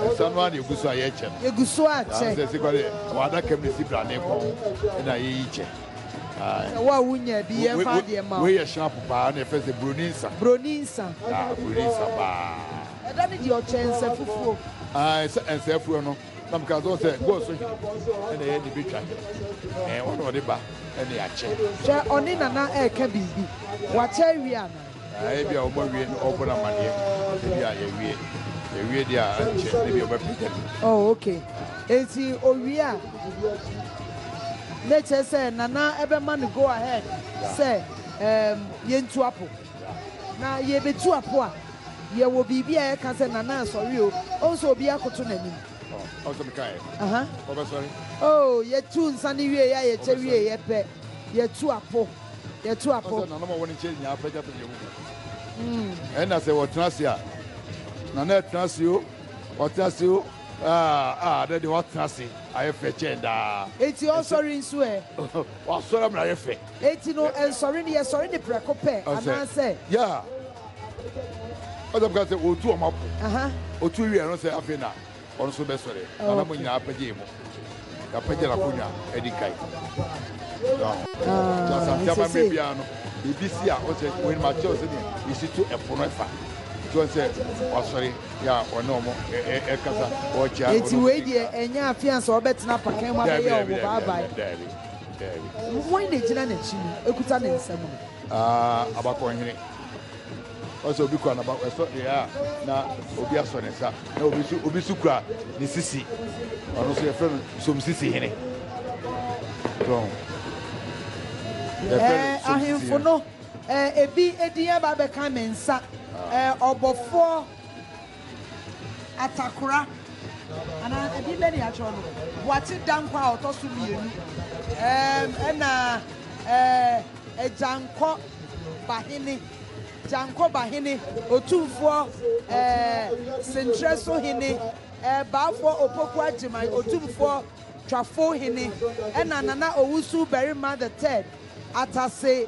ɛsa no a na ɛgu so a yɛkyɛ no ɛgu so akyɛ sɛ si kɔde wɔadaka mu si brane kɔn na yɛyi kyɛ sɛ wo a wonya bi yɛmfa adeɛ ma wei yɛ hyɛ apo paa na ɛfɛ sɛ buroni nsa buroni nsa buroni nsa paa ɛda ne deɛ ɔkyɛ nsɛ fufuo ɛnsɛ fuo no Na meka sɛ, sɛ God so hene, ɛna ɛyɛ de betwa hene. Ɛɛ, ɔne ɔde ba ɛne akyɛ. Hwɛ, ɔne Nana ɛɛka biribi. Wakyɛ awie anaa? Ɛɛ, ebi a wɔn awie no, ɔbɔ no amaneɛ. Ebi a yɛwie, yɛwie deɛ a, ɛnkyɛ na ebi a ɔbɛpagya no. Oh, okay. Enti owie a, na ɛkyerɛ sɛ Nana ɛbɛma no go ahead sɛ, ɛɛm, yɛntu apo. Na yɛbetu apo a, Yɛwɔ biribi a yɛka sɛ Nana nsɔre o, ɔn sɛ obiara koto n'anim. Ɔn sɛ meka ɛ, ɔbɛsɔre. Oh, yɛtu nsa no wiei a yɛkyɛ wieeɛ pɛ, yɛtu apo, yɛtu apo. Ɔn sɛ Nana ma wɔn nkyɛn nyinaa pɛgya pɛgya wɔn mu. Ɛna sɛ wɔtena ase a, Nana ɛtena ase o, ɔtena ase o, ah, ah, dɛ deɛ watena ase ayɛ fɛ kyɛn daa. Enti ɔsɔre nso ɛ? Wasɔre ama no ayɛ fɛ. Enti no, ɛnsɔre no, yɛsɔre no prɛko pɛ, anaasɛ. Yɛ a, ɔsɛ ɔbɛka sɛ ɔretu wɔn apo. Ɔtu wie a, ɛno sɛ afei na ɔno nso bɛsɔre. Na na mo nyinaa apagya mu. Yɛapagya no akonnwa adi kan. Na Asante amammerɛ biara no, biribi si a ɔsɛ wɔn anim akyerɛw sɛdeɛ yɛsi to ɛpo no fa. Nti wɔn sɛ wasɔre yɛ a ɔne wɔn ɛkasa ɔrekyia. Enti wei deɛ ɛnyɛ afeansa ɔbɛtena apakan mu abɛyɛ wɔn baabae. Wɔn na egyina n'akyi no ekuta ne nsam no. Ah, abakɔnhene. Ɔsɛ obi kura n'aba ɛsɔ deɛ a na obi asɔ ne nsa na obi so obi so kura ne sisi. Ɔno nso yɛfrɛ no somsisi hene. So yɛfrɛ no somsisi ahemfo hene. no, eh, ebi edin aba abɛka me nsa. Ah. Eh, ɔbɔfoɔ Atakora, anaa ɛdin bɛ ne yɛatwerɛ no? Boakye Dankwa a ɔtɔ so mmienu, ɛɛm, ɛna ɛɛ Gyankɔ Bahene, Gyankɔ Bahene, Otumfoɔ ɛɛ Senkyerɛ so Hene, ɛɛ Baafoɔ Opoku Agyeman, Otumfoɔ Twafo Hene, ɛna Nana Owusu Barima the Third, Atase.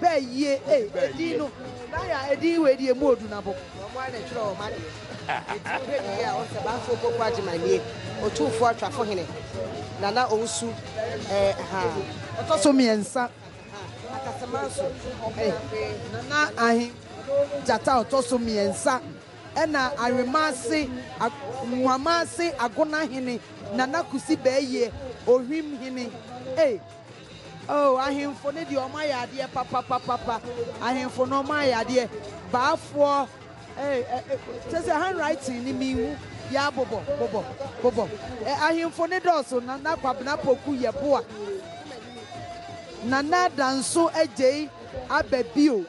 Bɛɛ yie ei edin no naya edin wei deɛ emu odu nabo. Wɔn ara na ɛtwerɛ wɔn adeɛ. Eti wohwɛ ne yie a wohu sɛ Banfoɔ Opoku Agyemang nie, Otumfoɔ Atwafo hene, Nana Owusu eh ahaa. Ɔtɔ so mmiɛnsa. Ahaa Akasamanso eh. Nana Ahe Gyata ɔtɔ so mmiɛnsa ɛna Awenmase, Nwamanse Agona hene, Nana Kusi Bɛɛyie, Ohwim hene ei. O, ahemfo no deɛ wɔayɛ adeɛ papapapapa, ahemfo no wɔayɛ adeɛ, baafoɔ, eh, eh, eh, kyɛ sɛ handwriting no menhu, ya bobɔ, bobɔ, bobɔ, eh, ahemfo no dɔɔso, Nana Kwabena Poku Yeboah, Nana Danso Adjei aba bio,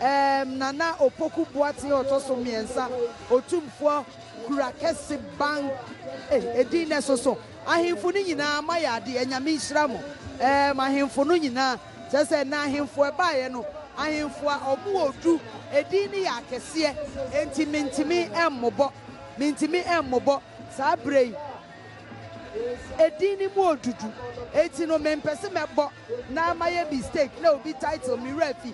eh, Nana Opoku Boateng a ɔtɔ so mmiɛnsa, Otumfoɔ Kura Kɛse Bang, eh, edin no ɛsoso. Ahemfo no nyinaa moayɛ ade ɛ nyame nhyira mo ɛɛm ahemfo no nyinaa kyerɛ sɛ nnɛ ahemfo ɛbaeɛ no ahemfo a ɔmo wɔ du ɛdin no yɛ akɛseɛ ɛnti mentimi ɛmmobɔ mentimi ɛmmobɔ saa berɛ yi ɛdin no mu ɔdudu ɛnti no mempɛse mɛbɔ na mayɛ mistake na obi title me werɛ afi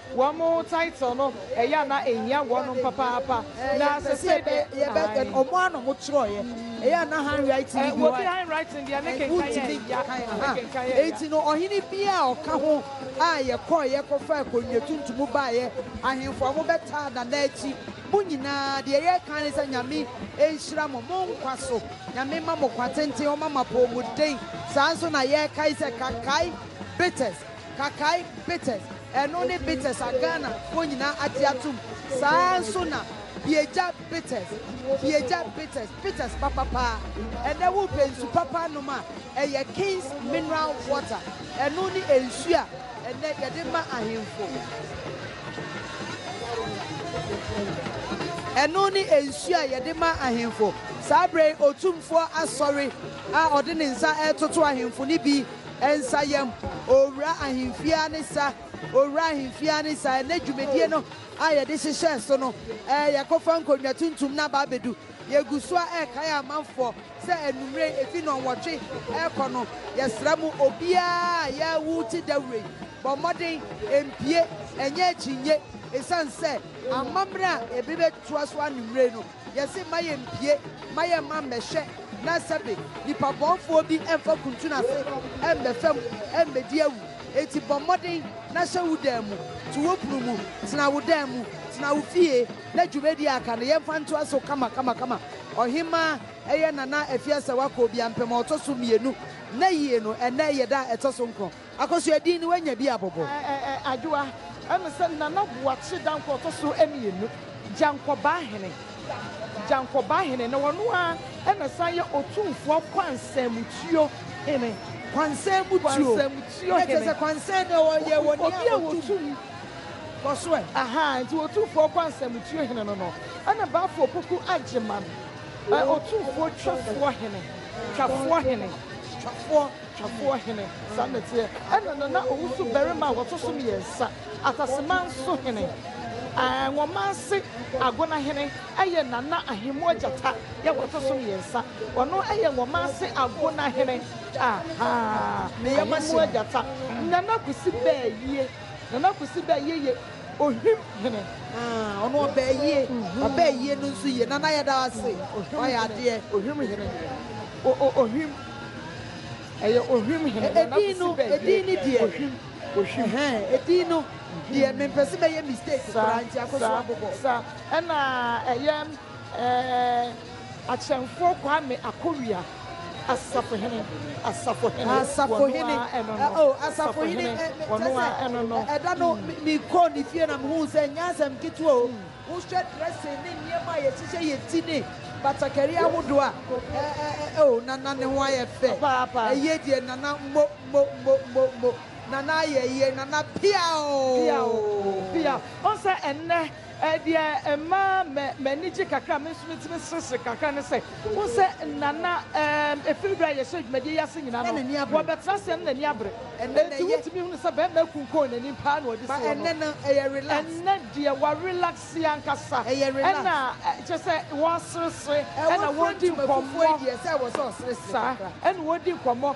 Wɔn title no ɛyɛ a na ɛhia wɔnom papaapa na sɛsei de ae. Wɔn ara na wɔn twerɛeɛ, ɛyɛ a na handwriting no bi hɔ a, wontumi nkenkan yɛ. Enti no ɔhene biara a ɔka ho a yɛkɔeɛ kɔfaa konnua tuntum baeɛ, ahemfo a wɔbɛtaa Nana akyi, mo nyinaa, deɛ yɛka ne sɛ Nyame nhyira mo, mo nkwa so, Nyame mma mo kwa tenten, Ɔmma mo apɔɔmuden, saa nso na yɛkae sɛ Kakai Bitters, Kakai Bitters. Ɛno ne Betes a Ghana foɔ nyinaa agye atom, saa ara nso na Biegya Betes, Biegya Betes, Betes papa paa. Ɛnnɛ wo pɛ nsu papa anom a, ɛyɛ King's Mineral Water, ɛno ne nsu a ɛnnɛ yɛde ma ahenfo. Ɛno ne nsu a yɛde ma ahenfo. Saa berɛ yi Otumfoɔ Asɔre a ɔde ne nsa retoto ahenfo no bi Nsayam, Owura Ahemfie ara ne sa, Owura Ahemfie ara ne sa, Ɛnnɛ dwumadie no a yɛde hyehyɛɛ so no ɛɛ Yɛakɔfa nkonnwa tuntum no aba abɛdu Yɛgu so ara ɛrekae amanfoɔ sɛ anwummerɛ yi ɛfiri nnɔnwɔtwe ɛrekɔ no Yɛsrɛ mo obiara a yɛawu wo te dawuro yi bɔ mmɔden ɛmpue ɛnyɛ akyinnye Ɛsiane sɛ amammerɛ a ɛbɛbɛtoa so anwummerɛ yi no Yɛse mma yɛmpie, mma yɛmma mmɛhwɛ na sɛbe nipa bɔnfoɔ bi mfa kuntun ase mmɛ fam mmɛdi awu. Enti bɔ mmɔden na hyɛ wo dan mu, to wo pono mu, tena wo dan mu, tena wo fie na dwumadie a aka no yɛmfa ntoa so kama kama kama. Ɔhemmaa, ɛyɛ Nana Afie Asɛwakɔ Obiampem a ɔtɔ so mmienu, nna yie no, ɛnnɛ yɛ da a ɛtɔ so nkron. Akosua din no wanya bi abobo. Adwoa, ɛne sɛ Nana Boakye Dankwa ɔtɔ so mmienu, Gyankɔbaahene, Gyankɔbaahene, na ɔno ara na ɛsan yɛ Otumfoɔ Kwansamutuo Hene. Kwansamutuo, na kyerɛ sɛ Kwansan no ɔyɛ wɔ nea a ɔtum. Kɔ so ɛ. Ahaa, nti Otumfoɔ Kwansamutuo Hene no no, ɛne Bafo Opoku Agyeman, Otumfoɔ Twafoɔ Hene, Twafoɔ Hene. Twafoɔ. Twafoɔ hene, saa na ɛteɛ. Ɛna na na ɔwoso barima a wɔto so mmiɛnsa, Ataseman so hene. Ɛɛ, Nwomanse Agona hene yɛ Nana Ahemmoɔ Gyata yɛ wɔto so mmiɛnsa. Ɔno yɛ Nwomanse Agona hene. Ahaa, Ahemmoɔ Gyata. Nana Kwesi Bɛɛyie, Nana Kwesi Bɛɛyie yɛ Ohwim hene. Haa, ɔno ɔbɛɛ yie. Ɔbɛɛ yie no nso yie. Nana yɛda wo ase, woayɛ adeɛ. Ohwim hene, o-o-ohwim. Ɛyɛ ohwim hene. Wɔn nan sisi baabi a ɛyɛ ohwim, ohwim. Ɛhɛn, edin no deɛ mempɛ sɛ mɛyɛ mistake koraa nti akɔ so abobɔ. Sa, sa, sa. Ɛna ɛyɛ ɛɛ Akyɛmfoɔ Kwame Akowia, Asafohene, Asafohene. Asafohene, oh, Asafohene, kyerɛ sɛ ɛda no mekɔɔ ne fie na mehuu sɛ ɛnyɛ asɛm ketewa o. Wohwɛ dressing ne nneɛma a yɛhyehyɛ yɛ ti ne batakari ahodoɔ a, eh-eh-eh oh Nana ne ho ayɛ fɛ, ɛyie deɛ Nana mo-mo-mo-mo-mo, Nana ayɛ yie, Nana pia oh. Pia oh, pia. Wohu sɛ ɛnnɛ eh deɛ ɛma m'ani gye kakra a, me nso metumi seresere kakra ne sɛ, Wohu sɛ nna na ɛɛm ɛfiri berɛ a yɛhyɛɛ dwumadie yi ase nyinaa no, wɔbɛtena aseɛ no n'ani abere. Enti wotumi hunu sɛ barima akunkɔn n'anim pa ara na ɔde si hɔ no. Ɛnnɛ deɛ wɔarelaxe ankasa ɛna kyerɛ sɛ wɔreseresere ɛna wɔredi nkɔmmɔ. Saa ɛna wɔredi nkɔmmɔ.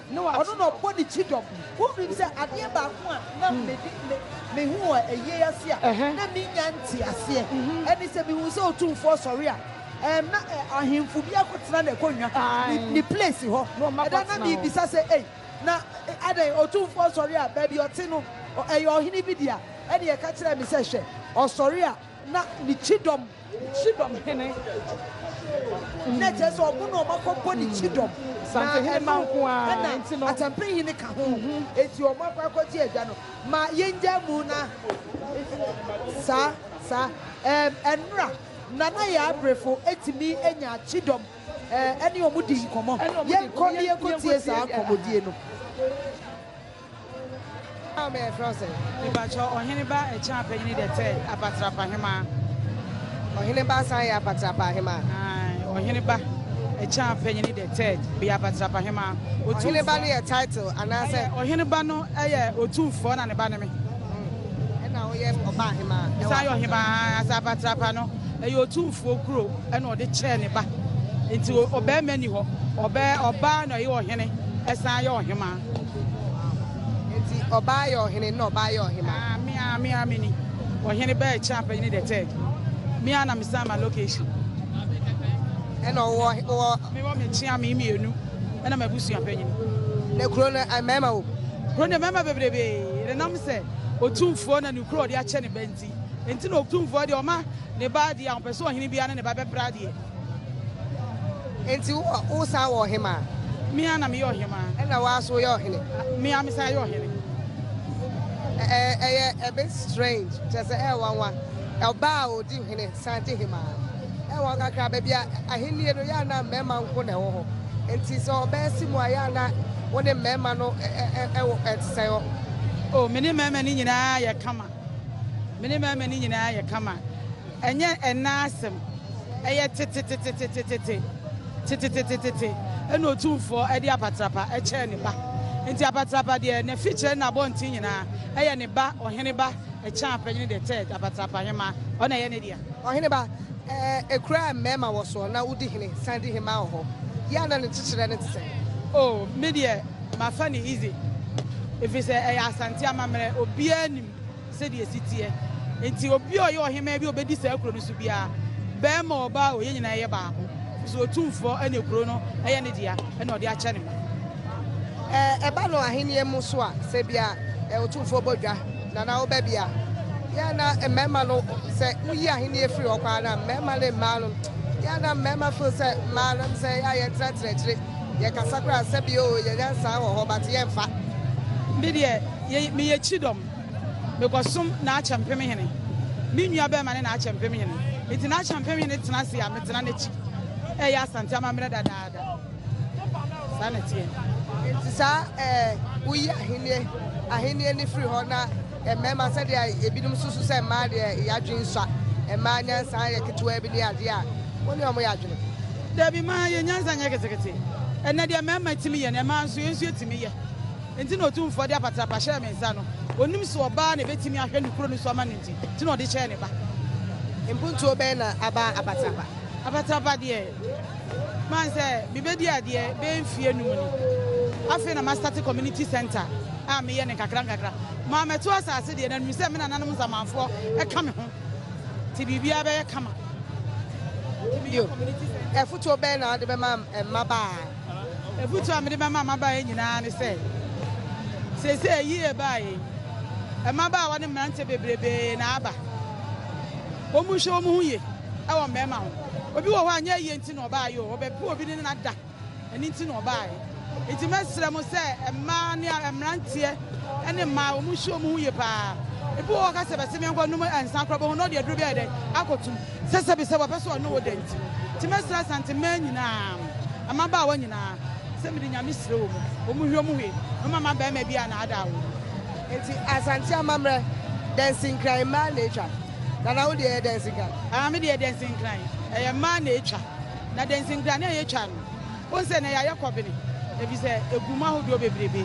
Ne wa, ɔno na ɔbɔ ne kyidɔm. Wonim sɛ adeɛ baako a na medi mehu wɔ ayie ase a na mennya nteaseɛ ne sɛ mehuu sɛ Otumfoɔ sɔre a ɛɛm na ahemfo biara kɔtena n'akonnwa, ne ne place, hɔ. Ɛda na merebisa sɛ, Ei, na adɛn? Otumfoɔ sɔre a baabi ɔte no ɛyɛ ɔhene bi dea? Ɛnna ɛka kyerɛɛ me sɛ, Hwɛ, ɔsɔre a Na ne kyidɔm, kyidɔm hene, na ɛkyerɛ sɛ ɔmo na ɔmo akɔbɔ ne kyidɔm. Santenhene mma nko ara nti no. Ɛna ɛna atampenhene ka ho. Enti ɔmo akɔ akɔgye agya no. Ma yɛngyae mu na saa, saa, ɛɛm, ɛnora Nana Yaabrefo tumi nya kyidɔm ɛne ɔmo di nkɔmɔ. Yɛnkɔ na yɛnkɔtie saa nkɔmɔdie no. Hɔ a me yɛfrɛ wo sɛn? Mepakyɛ ɔhene ba ɛkyɛn apanyini dɛ tɛ apatrapa hemaa. Ɔhene ba san yɛ apatrapa ahemaa. Ae, ɔhene ba ɛkyɛn apanyini dɛ tɛ beyɛ apatrapa hemaa. Ɔhene ba no yɛ title anaasɛ? Ɛyɛ, ɔhene ba no yɛ otumfoɔ na ne ba ne me. Hmm, ɛna ɔyɛ ɔba ahemaa. Ɔsan yɛ ɔhemaa ankasa apatrapa no ɛyɛ otumfoɔ kuro ɛna ɔde kyɛɛ ne ba. Nti ɔbɛɛma ni hɔ, ɔbɛɛ ɔbaa na ɔyɛ ɔhene ɛsan yɛ ɔhemaa. Enti ɔbaa yɛ ɔhene na ɔbaa yɛ ɔhema. Ah, me a me a me ni. Ɔhene bɛɛ kyɛ apɛnyini the third. Me a na me san ma location. Ɛna ɔwɔ ɔwɔ. Me wɔ me kyea me mmienu. Ɛna ma abusua pɛnyini. Na kuro no eh, mmarima wɔ. Kuro no mmarima bebrebe. Ɛdenam sɛ otumfoɔ na ne kuro ɔde akyɛ ne ba nti. Nti na otumfoɔ deɛ ɔma ne ba deɛ a ɔpɛ sɛ ɔhene biara ne ne ba bɛpra deɛ. Enti wo a, woresan wɔ ɔhemaa. Me ara na meyɛ ɔhemaa. Ɛna wo ara nso woyɛ ɔhene. Me ara mesan yɛ ɔhene. Ɛ, ɛyɛ a bit strange, kyerɛ sɛ ɛyɛ nwanwa. Ɔbaa a odi hene san di hemaa. Ɛyɛ nwanwa kakra. Baabi a ahenni no, ɛyɛ a na mmarima nko na ɛwɔ hɔ. Enti sɛ ɔbaa si mu a, ɛyɛ a na wo ne mmarima no wɔ, ɛte sɛn hɔ? Oh, me ne mmarima no nyinaa yɛ kama. Me ne mmarima no nyinaa yɛ kama. Ɛnyɛ ɛnnɛ asɛm, ɛyɛ tetetetetetete, tetetetetete na Otumfoɔ de apatrapa kyɛɛ ne ba. Enti apatrapa deɛ n'afikyerɛ ne n'abɔnten nyinaa, ɛyɛ ne ba Ɔheneba Ɛkyɛn-Apɛnyene the Third, Apatrapa Hemmaa, ɔno na ɛyɛ ne dea. Ɔheneba, ɛkura mmarima wɔ soɔ na wodi hene san di hemmaa wɔ hɔ, yɛ a na ne kyekyerɛ no te sɛn? Oh, me deɛ mafa no easy, ɛfiri sɛ ɛyɛ Asante amammerɛ, obiara nim. Sɛdeɛ ɛsi teɛ nti, obi a ɔyɛ ɔhemmaa bi a ɔbɛdi saa kuro no so biara, barima ɔbaa o, yɛn nyinaa yɛ baako, ɛfiri sɛ Otumfoɔ na kuro no yɛ ne dea, ɛna ɔde akyɛ ne ma. Ɛba no ahennie mu nso a, sɛ bi a Otumfoɔ bɔ dwa, na na woba bi a, yɛ a na mmarima no, sɛ woyi ahennie firi hɔ koraa na mmarima ne mmaa no, yɛ a na mmarima feel sɛ mmaa no sɛ yɛ a yɛntenatena akyire, yɛkasa koraa sɛ bi o yɛnya nsaa wɔ hɔ, but yɛmfa. Me deɛ, meyɛ kyidɔm. Mekɔsom Naakyɛ Mpemhene. Me nuabarima ne Naakyɛ Mpemhene. Enti Naakyɛ Mpemhene tena ase a, metena n'akyi reyɛ Asante amammerɛ dadaada. Saa na ɛteɛ. Enti saa ɛɛ woyi ahennie ahennie no firi hɔ na mmarima sɛdeɛ ebinom susu sɛ mmaa deɛ yɛadwene sua, mmaa nyansa yɛ ketewaa bi ne adeɛ a, wo ne wɔn yɛ adwene? Dabi, mmaa yɛn nyansa nyɛ ketekete. Ɛnnɛ deɛ mmarima tumi yɛ no, mmaa nso yɛn nso yɛtumi yɛ. Enti na Otumfoɔ de apatrapa hyɛɛ me nsa no. Onim sɛ ɔbaa na ebetumi ahwɛ ne kuro no so ama no nti, nti na ɔde kyɛɛ ne ba. Mpuntuo bɛn na aba apatrapa? Apatrapa deɛ, mahu sɛ mebɛdi adeɛ bɛyɛ mfeɛ num ni. Afei na mastate community centre a meyɛ no nkakrankakra. Maa mɛto asase deɛ, na mehunu sɛ me nananom nsamanfoɔ ka me ho, nti biribiara bɛyɛ kama. Nti meyɛ community centre. Afotuo bɛn na wode bɛma mmabaa? Afotu a mede bɛma mmabaa yi nyinaa ne sɛ, seesei ayi ɛbaa yei, mmabaawa ne mmeranteɛ bebrebe na aba. Wɔnhwɛ wɔn ho yie wɔ mmarima ho. Obi wɔ hɔ a nyɛ ayie nti na ɔbaeɛ o, ɔbɛpo obi ne no ada, ɛno nti na ɔbaeɛ. Nti mɛsrɛ mo sɛ mmaa ne mmeranteɛ ne mmaa wɔnhwɛ wɔn ho yie paa. Ebi wɔ hɔ ka sɛ bɛse menkɔ nom nsa koraa bɛhu na ɔde aduro bi ayɛ dɛn akɔtum. Sɛsɛbisɛ wɔpɛ sɛ wɔne wo da nti. Nti mɛsrɛ Asante mmaa nyinaa, mmabaawa nyinaa, sɛ mede Nyame srɛ wɔn, wɔn hwɛ wɔn hwɛ na wɔn ama barima bi a anaadaa wɔn. Nti Asante amammerɛ, dansinkran mmaa na ɛtwa. Nana wo deɛ ɛyɛ dansinkran? Aa, me deɛ dansinkran, ɛyɛ mmaa na ɛtwa. Na dansinkran no a yɛtwa no, Wohu sɛ nnɛ yɛayɛ kɔben efisɛ egu mu ahodoɔ bebrebe.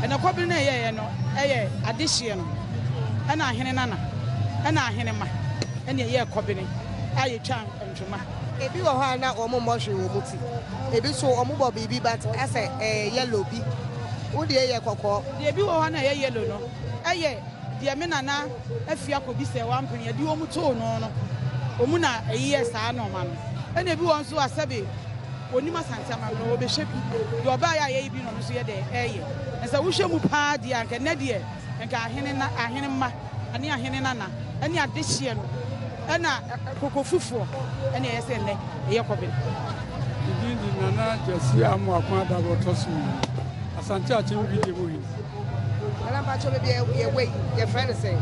Ɛnna kɔben no a yɛyɛeɛ no yɛ adehyeɛ no na ahenenana ne ahenemma na ɛyɛɛ kɔben a yɛtwa ntwoma. Ebi wɔ hɔ a na wɔmmɔ hwee wɔn ti. Ebi nso wɔbɔ biribi but asɛ ɛyɛ yellow bi. Wo deɛ yɛ kɔkɔɔ. Deɛ ebi wɔ hɔ a na ɛyɛ yellow no yɛ Deɛ me nana afie akɔbi sɛ wampene yɛ deɛ wɔn too no no wɔn na ɛyɛ saa na ɔma no ɛna ebi wɔn nso asɛbe onim asante ama no wɔbɛhwɛ bi deɛ ɔbaa yɛ a yɛyɛ bi na ɔno nso yɛ dɛ ɛyɛ na sɛ wohwɛ mu paa deɛ anka nnɛ deɛ nka ahene na ahene mma ɛne ahene nana ɛne adehyeɛ no ɛna koko fufuo ɛna ɛyɛ sɛ nnɛ ɛyɛ kɔbe. Ɛdin di nana gyasi amu akɔn adabɔ tɔ so asante akyɛn bi di mu yi. Nana mpakyɛw baabi a yɛwɔ yi yɛfrɛ no sɛn?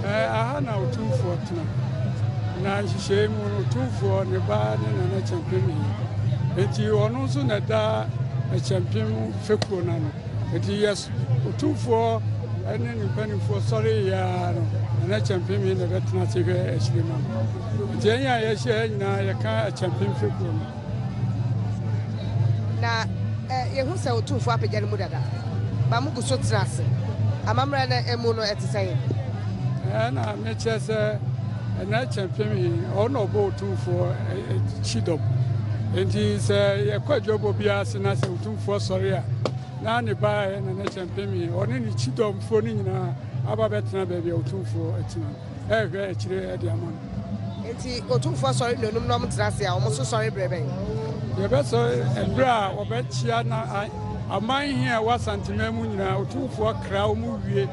Ɛɛ aha na otumfoɔ tena. Na nhyehyɛe mu no otumfoɔ ne ba ne nana kyɛmpem yi. Enti ɔno nso na ɛda kyɛmpem fekuo no ano. Enti yɛs otumfoɔ ne ne mpanimfoɔ sɔre yɛ ara no nana kyɛmpem yi na ɛbɛtena ase hwɛ akyire ma no. Enti ɛnyɛ a yɛhyɛ nyinaa yɛka kyɛmpem fekuo no. Na yehu sɛ Otumfo apagya no mu dada, ma mugu so tena ase. Amammerɛ no mu no, ɛte sɛn? Ɛna mekyerɛ sɛ ɛna ɛkyɛ mpem he ɔno na ɔbɔ otumfoɔ kyi dɔm nti sɛ yɛkɔ adwabɔ biara ase na sɛ otumfoɔ sɔre a na ne baeɛ na ne kyɛ mpem he ɔne ne kyi dɔmfoɔ no nyinaa aba bɛtena baabi a otumfoɔ atina no rehwɛ akyire de ama no. Enti Otumfoɔ sɔre nnuonum na wɔn tena ase a, wɔn nso sɔre berɛ bɛn? Yɛbɛsɔre ɛberɛ a wɔbɛkyea na aman he a ɛwɔ Asanteman mu nyinaa, Otumfoɔ kra wɔn wie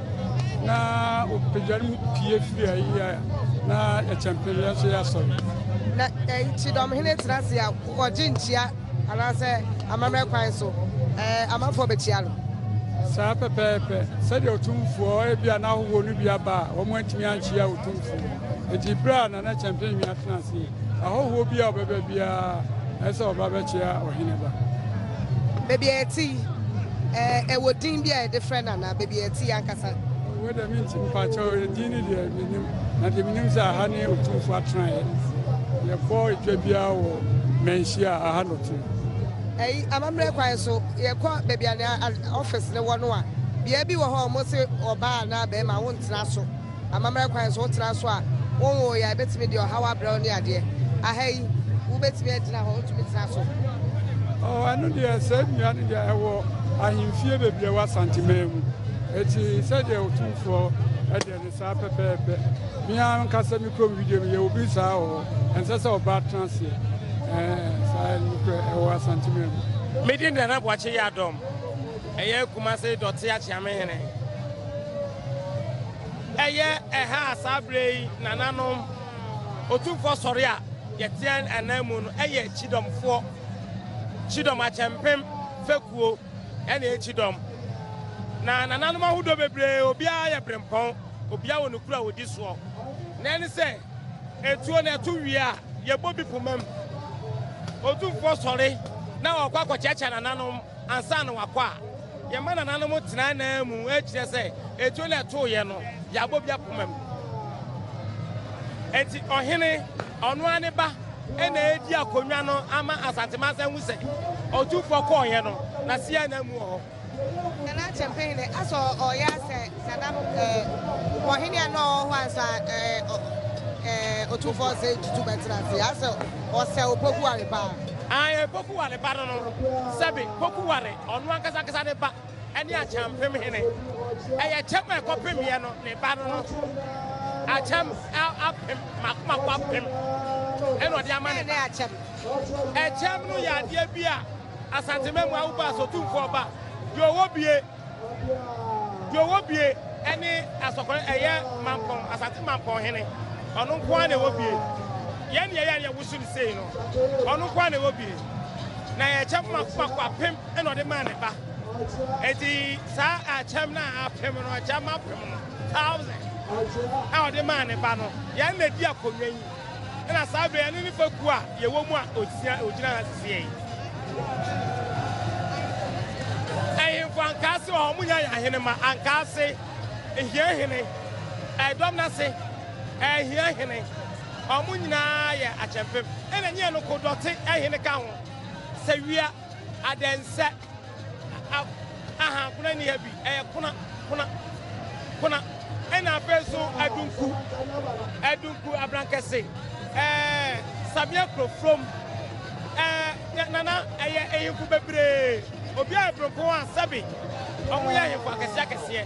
na ɔpagya no mu pie firi ha yi a, na yɛkyɛmpem yɛn nso yɛasɔre. Na eh, Kyidɔmhene tena ase a, wɔgye nkyia. Anaasɛ amammerɛ kwan so amanfoɔ bɛkyia no. Saa pɛpɛɛpɛ, sɛdeɛ Otumfoɔ, ebia n'ahohoɔ no bi aba a wɔantumi ankyia Otumfoɔ. Enti berɛ a Nana Kyɛmpemee atena ase yi, ahɔhoɔ bi a ɔbɛba biara, ɛsɛ sɛ ɔba bɛkyia Ɔheneba. Baabi a ɛte yi, ɛwɔ din bi a yɛde frɛ no anaa baabi a ɛte yi ankasa? Wei deɛ mentim, mpakyɛw, edin no deɛ. Menim, na deɛ menim sɛ aha ne Otumfoɔ atenaeɛ. Yɛbɔ dwa biara wɔ Manhyia a, aha na ɔte. Ɛyi, amammerɛ kwan so, yɛkɔ baabi a nea office no wɔ no a, bea bi wɔ hɔ a wɔse ɔbaa anaa barima wontena so. Amammerɛ kwan so, wotena so a, wonwoeɛ a, ɛbɛtumi de ɔhaw abrɛ wo ne adeɛ. Aha yi, wobɛtumi agyina hɔ, wotumi tena so. Oh, ɛno deɛ, saa nnua no deɛ ɛwɔ ahemfie bebree wɔ Asanteman mu. Eti sɛdeɛ Otumfoɔ Ɛne saa pɛpɛɛpɛ. Me ara m'ankasa me kurom video no yɛwɔ bi saa wɔ hɔ. Ɛnsɛ sɛ ɔbaa tena aseɛ. Ɛɛ saa nokorɛ ɛwɔ Asantemire mu. Me din de Nana Boakye Yiadom, ɛyɛ Kumase Dɔte Akyeamehene. Ɛyɛ ɛha a saa berɛ yi nananom Otumfoɔ sɔre a yɛteɛ ananmu no yɛ Kyidomfoɔ, Kyidom Akyɛmpem fekuo. ɛne ekyidɔm. Na nananom ahodoɔ bebree, obiara yɛ berempɔn, obiara wɔ ne kuro a ɔdi soɔ. Na ɛne sɛ, etuo no ɛto wie a, yɛbɔ bi poma mu. Otumfoɔ sɔre na ɔkɔ akɔkyeakyea nananom ansa na wakɔ a, yɛma nananom tena anan mu rekyerɛ sɛ etuo no ɛtoeɛ no, yɛabɔ bi apoma mu. Enti ɔhene, ɔno ara ne ba, na edi akonnwa no ama Asante Mansa ahu sɛ ɔtumfoɔ kɔɔeɛ no, na Sia na amu wɔ hɔ. Nana Acheampong dɛ asɛ ɔyɛ asɛ sadam ɔhene a na ɔwɔ hɔ ansa ɔtumfoɔ sɛ tutu bɛtena ase asɛ ɔsɛ opoku ware paa. Ae poku ware ba no no sɛbe poku ware ɔno ankasa ankasa ne ba. ne Akyɛmpem Hene. Ɛyɛ kyɛm a ɛkɔpemeɛ no ne ba no no akyɛm apem makomako apem ɛna ɔde ama ne ba. Ɛkyɛm no yɛ adeɛ bi a Asante Mmamu awobɔ asotumfoɔ ba deɛ ɔwɔ bie deɛ ɔwɔ bie ɛne asɔkɔrɔ ɛyɛ mampɔn Asante mampɔn hene ɔno nko ara na ɛwɔ bie yɛn deɛ yɛn yɛ woso ne sei no ɔno nko ara na ɛwɔ bie na yɛkyɛm makomako apem ɛna ɔde maa ne ba eti saa akyɛm na apem no akyɛm apem no thousand a ɔde maa ne ba no yɛn na di akonnwa yi ɛna saa bɛ yɛn ne nipa ku a yɛwɔ mu a osia ogyina ha sisi yɛn ɛyinfo ankaase wɔ hɔ mo nya yɛ ahene ma ankaase ehia hene ɛdɔm n'ase ɛhia hene wɔn nyinaa yɛ akyɛmpem ɛna nyɛ no ko dɔte ɛhene ka ho sɛ wia. Adɛnsɛ a ahankona nni ha bi? Ɛyɛ kona, kona, kona. Ɛna afei nso adunku, adunku abrankɛse. Ɛɛ Samia Kurofurom. Ɛɛ Nana, ɛyɛ ahemfo bebree. Obiara yɛ prempon a sɛbe wɔyɛ ahemfo akɛseɛ akɛseɛ.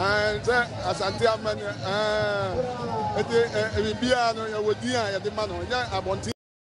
Ɛɛ sɛ Asante Aman ɛɛ eti ɛɛ biribiara no yɛwɔ din a yɛde ma no nyɛ abɔnten.